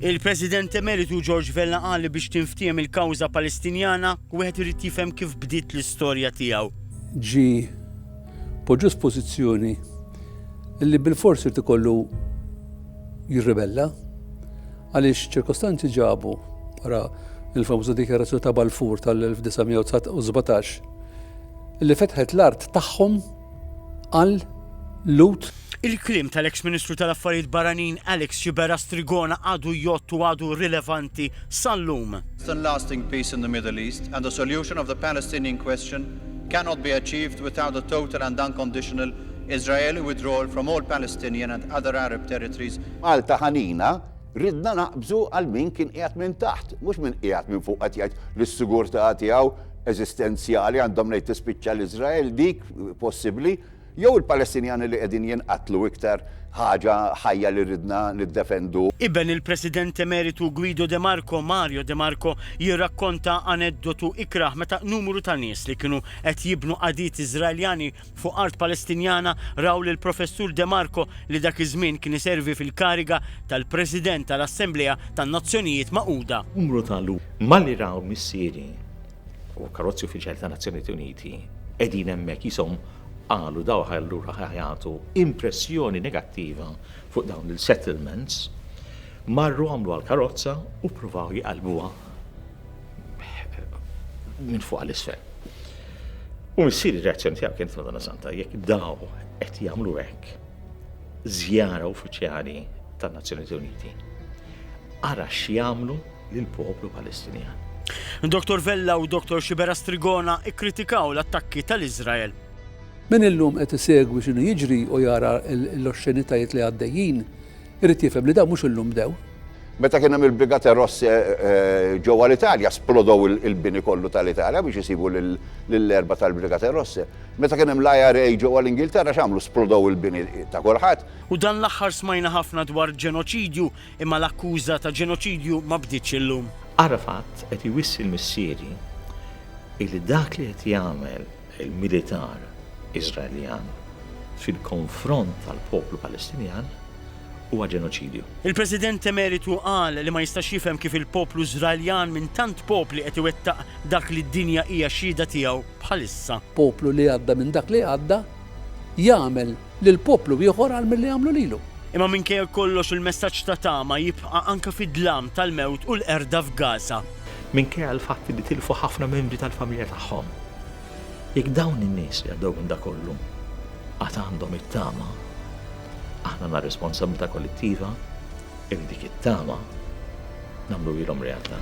Il-President Emeritu George Vella qal li biex tinftiehem il-kawża Palestinjana, wieħed irid jifhem kif bdiet l-istorja tiegħu. Ġi poġġuż pożizzjoni li bilfors irid ikollu jirribella għaliex ċirkostanzi ġabu wara il-famuża dikjarazzjoni ta' Balfour tal-1917 li fetħet l-art tagħhom qal Lut. Il-kliem tal-eks Ministru tal-Affarijiet Barranin Alex Xibera Strigona għadu jgħodd u għadu rilevanti sal-lum. lasting peace in the Middle East and a solution of the Palestinian question cannot be achieved without a total and unconditional Israeli withdrawal from all Palestinian and other Arab territories Malta ħanina, ridna naqbżu għal min kien qiegħed minn taħt, mhux min qiegħed minn fuq qed jgħid li s-sigurtà tiegħu eżistenzjali, għandhom ngħid tispiċċa l-Iżrael dik possibbli, jew il-Palestinjani li qegħdin jinqatlu iktar ħaġa ħajja li ridna niddefendu. Iben il-President Emeritu Guido de Marco, Mario de Marco, jirrakkonta aneddotu ikrah meta numru ta' nies li kienu qed jibnu qagħdiet Iżraeljani fuq art Palestinjana raw lill-Professur De Marco li dak iż-żmien kien iservi fil-kariga tal-President tal-Assemblea tan-Nazzjonijiet Magħquda. Numru ta' lhuma li raw missieri u karozzi uffiċjali tan-Nazzjonijiet Uniti qegħdin hemmhekk qishom qalu dawk allura ħa jagħtu impressjoni negattiva fuq dawn il-settlements, marru għamluha l-karozza u ppruvaw jqallbuha. minn fuq għal isfel. U missieri r-reazzjoni tiegħu kienet Madonna Santa, jekk daw qed jagħmlu hekk żjara uffiċjali tan-Nazzjonijiet Uniti. Ara x'jagħmlu lill-poplu Palestinjan. Dr. Vella u Dr. Xibera Strigona ikkritikaw l-attakki tal-Iżrael. Min illum qed isegwi x'inhu jiġri u jara l-oxxenitajiet li għaddejjin, irid jifhem li dawn mhux illum bdew. Meta kien hemm il-Brigate Rosse ġewwa l-Italja, splodow il-bini kollu tal-Italja biex isibu lill-erba' tal-Brigate Rosse. Meta kien hemm l-IRA ġewwa l-Ingilterra x'għamlu? Splodow il-bini ta' kulħadd. U dan l-aħħar smajna ħafna dwar ġenoċidju, imma l-akkuża ta' ġenoċidju ma bdietx illum. Arafat qed iwissi l-missieri illi dak li qed jagħmel il-militar Iżraeljan fil-konfront tal-poplu Palestinjan huwa ġenoċidju. Il-President Emeritu qal li ma jistax jifhem kif il-poplu Iżraeljan minn tant popli qed iwettaq dak li d-dinja hija xhieda tiegħu bħalissa. Poplu li għadda minn dak li għadda jagħmel lil poplu ieħor għal milli għamlu lilu. Imma minkejja kollox il-messaġġ ta' tama jibqa' anke fid-dlam tal-mewt u l-qerda f'Gaza. Minkejja l-fatt li tilfu ħafna membri tal-familja tagħhom. Jekk dawn in-nies li għaddew minn dak kollu għad għandhom it-tama, aħna għandna responsabbiltà kollettiva li dik it-tama nagħmluhielhom realtà.